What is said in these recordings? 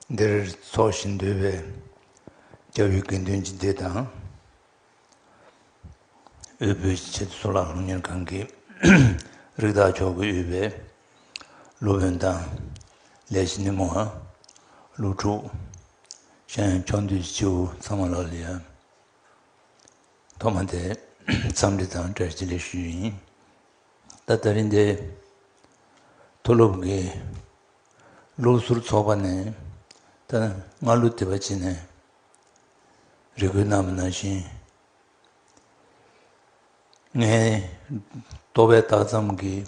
འདིར་འཚོགས་ཤིང་འདུས་པའི་རྒྱལ་བའི་དགེ་འདུན་གྱི་སྡེ་དང། དབུལ་པོའི་ཆེད་དུ་གཙུག་ལག་ཁང་ཉེར་གང་གི་རིགས་བདག་མཆོག་གི་དབུལ་བའི་སློབ་དཔོན་དང། ལས་བྱེད་ནི་མོ་ཧ། སློབ་ཕྲུག། གཞན་ཡང་ཕྱོགས་འདུས་ཀྱི་ཁྱེའུ་ཚང་མ་ལགས་ལ་ཡང། ཐོག་མ་དེ་འཚམས་འདྲི་དང་བཀྲ་ཤིས་ལེགས་ཞུ་ཡིན། ད་ལྟ་རིང་འདིར་མཐོ་སློབ་ཀྱི། ལུགས་གཟུར་ཚོགས་པ་ནས་ད་ནི་སྔར་ལུགས་དེ་པ་བྱིན་ནས། རེ་གུ་རྣམས་ན་བཞིན་ངའི། ལྟོ་བའི་རྟགས་ཙམ་གྱིས་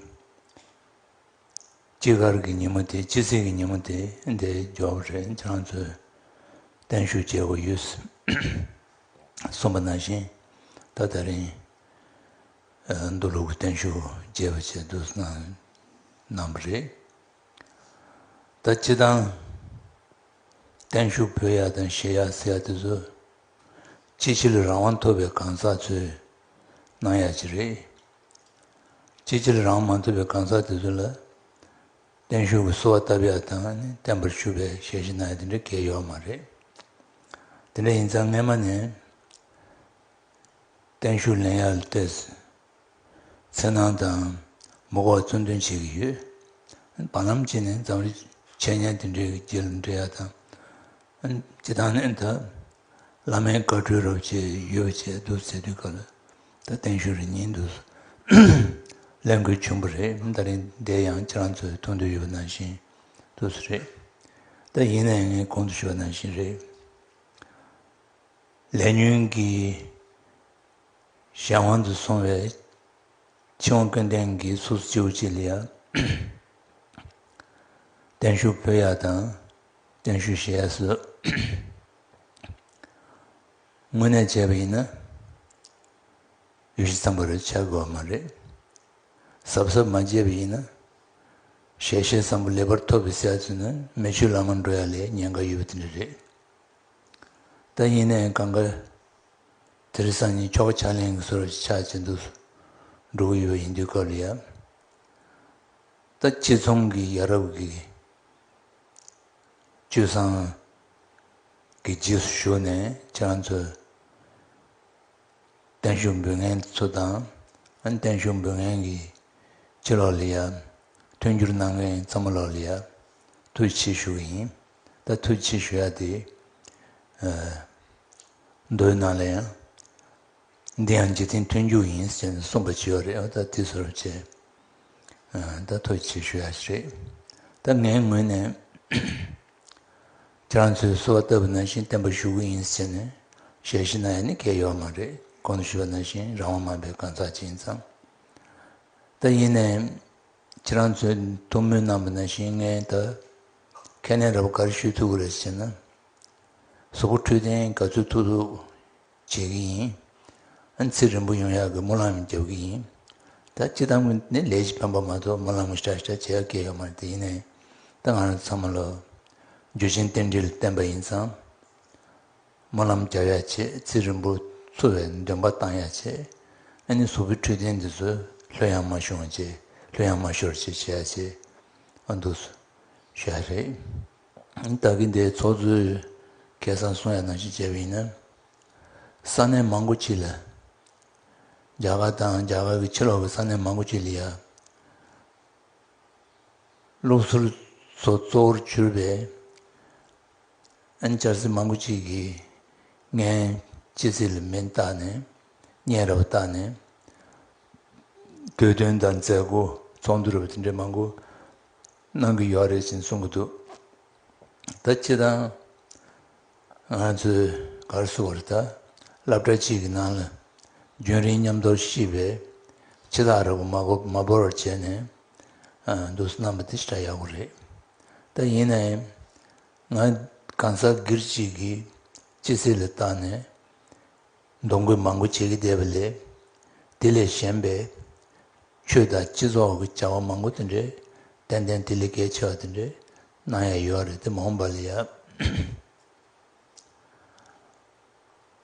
ཅི་དགར་གྱི་ཉིན་མོ་དེ་ཅི་ཟིག་གི་ཉིན་མོ་དེ་འདི་འཇོག་པ་རེད་ཁྱེད་རང་ཚོས་བརྟན་བཞུགས་བྱེད་དགོས་ཡོད། གསུངས་པ་ན་བཞིན་ད་ད་རིང། འདུ་ལུགས་བརྟན་བཞུགས་རྒྱས་པ་བཅས་བསྡུ་གནང་གནང་བ་རེད། ད་སྤྱི་དང། བརྟན་བཞུགས་བོད་ཡག་དང་གཞས་ཡག་ཟེར་ཡག་དེ་ཚོ། སྤྱི་ཕྱིར་རང་དབང་ཐོབ་པའི་གང་ཟག་ཚོས་གནང་ཡག་ཅིག་རེད། སྤྱི་ཕྱིར་རང་དབང་མ་ཐོབ་པའི་གང་ཟག་དེ་ཚོ་ལ། བརྟན་བཞུགས་ཀྱི་གསོལ་བ་བཏབ་ཡག་དང་བརྟན་པར་བཞུགས་པའི་ཞལ་བཞེས་གནང་ཡག་དེ་འདྲ་གལ་ཡོད་མ་རེད། དེ་འདྲ་ཡིན་ཙང་སྔས་མ་ནས། བརྟན་བཞུགས་ལན་ཡར་ལྟས། འཚེར་སྣང་དང་མུག་བག་བཙོན་འདུན་བྱེད་ཀྱི་ཡོད། བར་ལམ་གྱི་ནི་འཛམ་རིག་འཆད་ཉན་དེ་འདྲའི་རྒྱུད་ལ་འབྲེལ་ཡག་དང། སྤྱི་བཏང་ནི་ད་བླ་མའི་བཀའ་འཁྲོལ་རབ་བྱེད་ཡོད་བྱས་བསྡུ་ཚེ་དུས་སྐབས་ལ་ད་བརྟན་བཞུགས་རེ་གཉིས་འདུག་གླེང་དགོས་བྱུང་བ་རེད་ད་རིང་འདས་ཡང་ཁྱེད་རང་ཚོས་མཐོང་འདོད་ཡོད་པ་ནང་བཞིན་དུ་སུ་རེད་ད་ཡིན་ནའི་ངས་གོང་དུ་ཞུ་བ་ནང་བཞིན་རེད། ལས་ཉོན་གྱི་གཞན་དབང་དུ་སོང་བའི་ཕྱིར་དབང་སྐྱོན་ལྡན་གྱི་ཚོགས་སུ་སྐྱེ་བོ་གཅིག་ལ་ཡང། བརྟན་བཞུགས་བོད་ཡག་དང་བརྟན་བཞུགས་གཞལ་ཡས་སུ་དངོས་གནས་བྱས་པ་ཡིན་ན་ཡུལ་གཞི་ཚང་པར་བྱ་དགོས་བ་མ་རེད། གཟབ་གཟབ་མ་བྱས་པ་ཡིན་ན་ཞལ་ཤེས་བཟང་པོ་ལེགས་པར་ཐོབ་པའི་གསལ་ཚུལ་ནི་མེ་ཆུ་ལམ་མར་འགྲོ་ཡ་ལས་ཉེན་ཁ་ཡོད་པ་དེ་འདྲ་རེད། ད་ཉིན་ནས་གང་དགའ། དེར་སང་ཉིན་ཁྱོ་ག་ཕྱག་ལེན་གྱི་སོར་ཆགས་བྱེད་འདུག་སུ་འགྲོ་གི་ཡོད་པ་ཡིན་དུས་སྐབས་ལ་ཡབ། ད་ཁྱེད་ཚང་གི་ཡ་རབས་ཀྱི་སྤྱོད་བཟང་གི་རྗེས་སུ་ཞུགས་ནས་ཁྱེད་རང་ཚོས་བརྟན་བཞུགས་འབུལ་མཁན་ཚོ་དང་བརྟན་བཞུགས་འབུལ་མཁན་གྱི་ཁྱི་ལོག་ལ་ཡབ། མཐུན་འགྱུར་གནང་མཁན་ཚ་མོ་ལོག་ལ་ཡབ། ཐུགས་ཆེ་ཞུ་གི་ཡིན། ད་ཐུགས་ཆེ་ཞུ་ཡག་དེ། མདོའི་ནང་ལ་ཡང། འདི་ཡང་འཇིག་རྟེན་མཐུན་འཇུག་ཡིན་ཟེར་ནས་གསུངས་པ་ཇི་ཡོད་རེད་ད་དེ་ཚོར་བྱས། ད་ཐུགས་ཆེ་ཞུ་ཡག་ཞིག་རེད། ད་ངའི་ངོས་ནས། ཁྱེད་རང་ཚོས་བསུ་བ་ལྟ་བུ་ནང་བཞིན་བསྟན་པ་ཞུ་གི་ཡིན་ཟེར་ནས་ཞལ་བཞེས་གནང་ཡ་ནི་སྐལ་ཡོད་མ་རེད་གོང་དུ་ཞུས་པ་ནང་བཞིན་རང་དབང་མང་པའི་གང་ཟག་ཅིག་ཡིན་ཙང། ད་ཡིན་ནའི། ཁྱེད་རང་ཚོས་ཐུགས་སྨོན་གནང་བ་ན་བཞིན་ངས་ད་ཁས་ལེན་ར་བ་ག་རེ་ཞུས་ཐུག་གི་རེད་ཟེར་ན། གཟུགས་པོ་འཁྲུལ་ལྡན་ག་ཚོད་ཐུག་ཐུག་བྱེད་ཀྱི་ཡིན། ཨ་ཚེ་རིང་པོ་ཡོང་ཡག་གི་སྨོན་ལམ་ཡང་རྒྱབ་ཀྱི་ཡིན། ད་སྤྱི་བཏང་གི་ནི་ལས་ཀྱི་ཕན་པ་མ་གཏོགས་སྨོན་ལམ་གྱི་བཀྲ་ཤིས་བྱ་ཡག་སྐལ་ཡོད་མ་རེད་དེ་ཡིན་ནའི་ད་ང་རང་ཚང་མ་ལ་རྒྱུ་ཆེན་རྟེན་འབྲེལ་བསྟན་པ་ཡིན་ཙང། སྨོན་ལམ་རྒྱབ་ཡ་བྱེད་རྩིས་རིན་པོ་ཆུ་བས་འདོན་པ་བཏང་ཡ་བྱེད། ཨ་ནི་གཟུགས་པོའི་འཕྲོད་བསྟེན་འདི་ཚོས་ལྷོད་ཡངས་མ་ཤོང་བྱེད་ལྷོད་ཡངས་མ་ཤོར་བྱེད་བྱེད་ཡ་བྱེད། ཨ་འདུག་སོ། ཤོད་ཡ་རེད། ད་གིན་དེའི་ཚོགས་གཙོའི་སྐལ་བཟང་གསུང་ཡ་ནང་བཞིན་བྱས་པ་ཡིན་ན། ས་གནས་མང་པོ་ཅིག་ལ། རྒྱ་གར་དང་རྒྱ་གར་གྱི་ཕྱི་ལོག་གི་ས་གནས་མང་པོ་ཅིག་ལ་ཡ། སློབ་ཟུར་ཚོ་གཙོ་བོར་གྱུར་པའི། འཇར་སི་མང་པོ་ཅིག་གིས་ངའི་སྤྱི་ཚེས་ལ་མིང་བཏགས་ནས་སྙན་རབ་བཏགས་ནས་བསྡུས་དོན་དང་མཛད་སྒོ་ཚོགས་འདུ་རབ་དེ་འདྲའི་མང་པོ་གནང་གི་ཡོད་རེད་ཅེས་གསུང་གི་འདུག་ད་ཁྱེད་དང་ང་ཚོས་གར་བསུ་བར་ད་སླབ་གྲྭ་གཅིག་གི་ནང་ལ་རྒྱུན་རིང་མཉམ་འདོར་ཤིས་པའི་ཕྱི་ཐག་རབ་མ་བོར་བར་བྱས་ནས། འདུག་རྣམ་པ་དེ་འདྲ་ཡག་པོ་རེད་ད། ཡིན་ནའང་ང་གང་ཟག་སྒེར་གཅིག་གིས་ཅི་སྲིད་ལ་བརྟགས་ནས་འདོང་རྒོད་མང་པོ་བྱེད་ཀྱི་བསྡད་པ་ལས། དེ་ལས་གཞན་པའི་ཆོས་དང་སྤྱི་ཚོགས་ཀྱི་བྱ་བ་མང་པོ་དེ་འདྲའི་ཏན་ཏན་དེ་ལས་གལ་ཆེ་བ་དེ་འདྲའི་གནང་ཡ་ཡོད་རེད་དེ་མ་འོངས་པ་ལ་ཡ།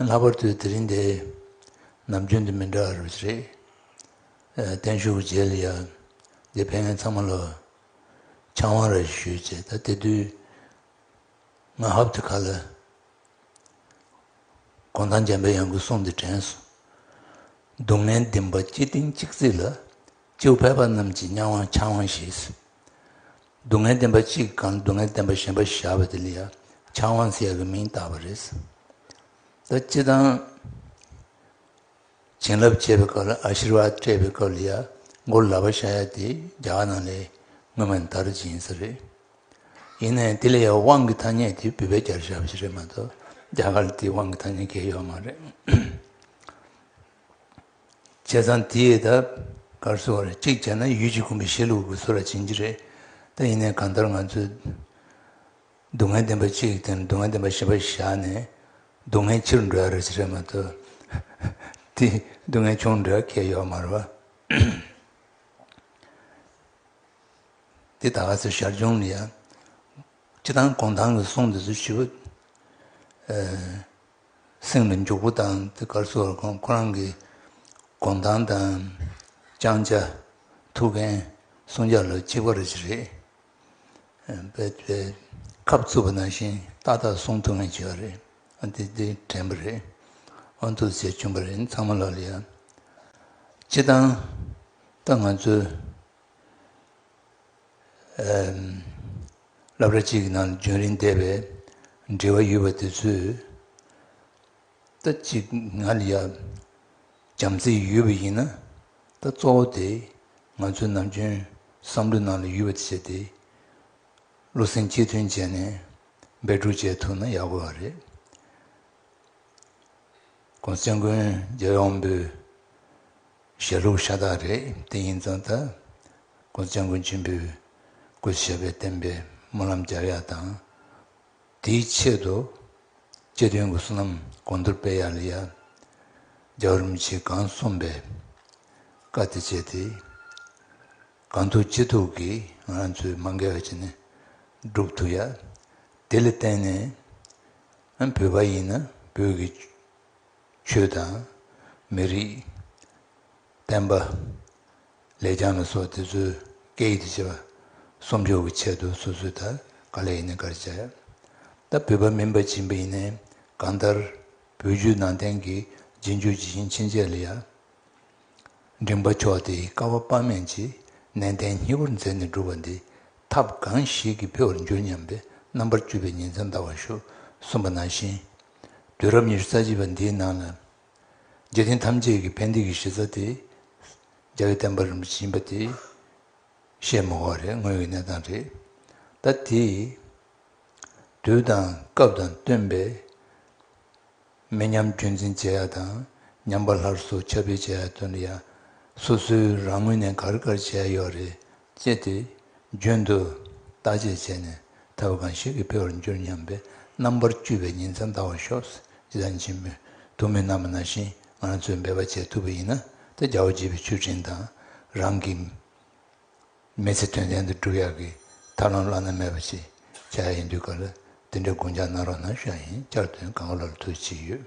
ལྷག་པར་དུ་དེ་རིང་འདི་ནམ་རྒྱུན་དང་མི་འདྲ་བར་རེད། བརྟན་བཞུགས་རྗེས་ལ་ཡང་འདི་ཕན་ངེད་ཚང་མ་ལ་ཕྱག་དབང་རེ་ཞུས་ཅེས་ད་དེ་དུས་ང་ཧབ་ཏུ་ཁ་ལ་གོང་ཐང་འཇམ་པའི་དབྱངས་ཀྱི་གསུང་འདི་དྲན་སོང། སྡུག་བསྔལ་འདི་འབའ་སྐྱིད་གཏིང་གཅིག་བརྩེགས་ལ་སྤྱིའུ་ཕལ་པ་རྣམས་ཀྱིས་གཉའ་དབང་ཕྱག་དབང་ཞེས། སྡུག་བསྔལ་བདེན་པ་གཅིག་གམ་སྡུག་བསྔལ་བདེན་པ་གཞན་པ་བཞག་པ་དེ་ལ་ཡང་ཆང་བང་སེ་ཡ་གི་མིང་བཏགས་པ་རེད། ད་སྤྱི་དང། བྱིན་རླབས་བྱེད་པའི་སྐབས་ལ་ཨ་ཤིར་བ་སྤྲད་པའི་སྐབས་ལ་ཡ་མགོར་ལག་པ་བཞག་ཡ་དེ་རྒྱ་གར་ནང་ལས་སྔོན་མ་མདར་སྦྱིན་ས་རེད། ཡིན་ན་ཡང་དེ་ལ་ཡ་དབང་གི་ཐ་སྙད་དེ་བུད་པའི་རྒྱར་བཞག་པ་ཞིག་རེད་མ་གཏོགས་རྒྱ་གར་ལ་དེའི་དབང་གི་ཐ་སྙད་འགེལ་ཡོད་མ་རེད། བྱས་ཙང་དེས་ད་གར་གསོད་བར་གཅིག་བྱས་ན་ཡུལ་གྱི་དགོན་པའི་བཤད་ལུགས་ཀྱི་སོ་ར་བྱིན་གྱི་རེད་ད་ཡིན་ནའི་གང་ལྟར་ང་ཚོས་སྡུག་བསྔལ་བདེན་པ་གཅིག་དེ་ནི་སྡུག་བསྔལ་བདེན་པ་ཞེས་པ་བཞག་ནས་སྡུག་བསྔལ་ཕྱིར་འགྲོ་ཡ་རེད་ཅེས་རེད་མ་གཏོགས་དེས་སྡུག་བསྔལ་ཆུང་འགྲོ་ཡ་ཁེལ་ཡོད་མ་རེད་པ། དེ་ད་ག་ཚོད་ཞར་བྱུང་ནི་ཡ། སྤྱི་དང་གོང་ཐང་གི་གསུང་འདི་ཚོ་བྱིས་པ། གསེང་ལ་འཇུག་པོ་དང་དེ་སྐར་ཚོགས་ལ་ཁོང་རང་གི་དགོངས་དང་དང། བཅང་བྱ། ཐུགས་འགན། བསྲུང་བྱ་ལ་གཅིག་པ་རེད་ཅེས་ཁབ་བཙུགས་པ་ནང་བཞིན་ཏག་ཏག་བསྲུང་ཐུབ་ངེས་བྱས་པ་རེད། ཨ་འདི་འདི་དྲན་པ་རེད། ཨ་ཐུགས་རྗེ་ཆུང་པ་རེད་ཚང་མ་ལ་ལ་ཡ། སྤྱི་བཏང། ད་ང་ཚོའི། བསླབ་གྲྭ་གཅིག་གི་ནང་ལ་རྒྱུན་རིང་བསྡད་པའི་འབྲེལ་བ་ཡོད་པ་དེ་ཚོས། ད་ཅིག་ང་ལ་ཡ་འཇམ་རྩིས་ཡོད་པ་ཡིན་ན། ད་གཙོ་བོ་དེ་ང་ཚོའི་ནམ་རྒྱུན་བསམ་བློའི་ནང་ལ་ཡོད་པ་དེ་བྱས་ཏེ། བློ་སེང་གཅིག་མཐུན་བྱས་ནས་འབད་སྒྲུག་བྱས་ཐུབ་ན་ཡག་པོ་བ་རེད། ཁོང་བཙན་རྒོལ་རྒྱལ་ཡོངས་པོའི་ཞལ་ལུགས་ཤ་སྟག་རེད་དེ་ཡིན་ཙང་ད་ཁོང་བཙན་རྒོལ་ཆེན་པོའི་སྐུ་ཞབས་པའི་བསྟན་པའི་སྨོན་ལམ་སྦྱར་ཡག་དང་དེའི་ཆེད་དུ་སྤྱི་དོན་གྱི་བསོད་ནམས་གོང་མཐོར་སྤེལ་ཡག་ལས་ཡག་རྒྱའོ་རིན་པོ་ཆེས་གང་གསུངས་པའི་བཀའ་དེ་སྤྱད་དེ་གང་ཐུག་ཅི་ཐུག་གིས་ང་རང་ཚོའི་མ་འགལ་བ་ཅི་ནས་བསྒྲུབ་ཐུབ་ཡག་དེ་ལས་བརྟེན་ནས་བོད་པ་ཡིན་ན་བོད་ཀྱི་ཆོས་དང། མི་རིགས། བསྟན་པ། ལེགས་བྱང་ལ་སོགས་དེ་ཚོའི་སྐད་ཡིག་ཏུ་བྱས་པ། གསོག་འཇོག་གི་ཆེད་དུ་སོ་སོའི་དར་དཀར་ལས་ཡིན་ན་དཀར་བྱས། ད་བོད་པ་མིན་པ་སྦྱིན་པ་ཡིན་ནས་གང་ལྟར། བོད་བརྒྱུད་ནང་བསྟན་གྱི་རྗེས་འཇུག་ཇི་བཞིན་ཕྱིན་ཆད་ལ་ཡ། མགྲིན་པ་ཕྱོགས་དེའི་ཀ་བ་དཔག་མེད་ཀྱིས་ནན་ཏན་སྙིང་བོར་མཛད་ནས་བསྒྲུབ་པ་འདི་ཐབས་གང་ཞིག་གིས་འཕེལ་བར་འགྱུར་སྙམ་པའི་རྣམ་པར་དཔྱོད་པའི་ཉིན་མཚན་འདའ་བར་ཞུ་གསུངས་པ་ནང་བཞིན། དུས་རབས་ཉི་ཤུ་རྩ་གཅིག་པ་འདིའི་ནང་ལ། རྒྱལ་ཆེན་ཐམས་ཅད་ཀྱི་ཕན་བདེ་གྱི་གཞི་རྩ་དེ། རྒྱལ་བའི་བསྟན་པ་རིན་པོ་ཆེ་ཡིན་པ་དེ་བཤད་མི་དགོས་པ་རེད་དངོས་ཡོད་གནས་སྟངས་རེད། ད་དེས་དུས་དང་སྐབས་དང་བསྟུན་པའི། མི་ཉམས་རྒྱུན་འཛིན་བྱེད་ཡག་དང་ཉམས་པ་ལྷར་གསོ་ཁྱབ་སྤེལ་བྱེད་ཡག་དོན་འདི་ཡང་སོ་སོའི་རང་ངོས་ནས་གར་གར་བྱས་ཡག་ཡོད་རེད་ཅེས་དུས་རྒྱུན་དུ་བརྟག་དཔྱད་བྱས་ནས་ཐབས་བ་གང་ཞིག་གིས་འཕེལ་བར་འགྱུར་སྙམ་པའི་རྣམ་པར་དཀྱུས་པའི་ཉིན་མཚན་འདའ་བ་ཤོག་སེ་ཇི་ལྟར་མཆིས་མོད་དུ་མི་རྣམས་ན་བཞིན་ང་ཚོས་འབད་པ་བྱེད་ཐུབ་པ་ཡིན་ན་ད་རྒྱ་བོ་བྱིས་པའི་ཆུ་སྤྲིན་དང་རང་གི། མི་ཚེ་དོན་ལྡན་དུ་འགྲུབ་ཡག་གི་ཐབས་ལམ་བླ་ན་མེད་པ་ཞིག་བྱ་ཡག་ཡིན་དུས་ག་ལ་དེ་འདྲའི་དགུང་འཇག་གནང་རོགས་གནང་ཤོག་ཡིན་བསྐྱར་དོན་ག་ག་ལ་ལ་ཐུགས་ཆེ་ཡོད།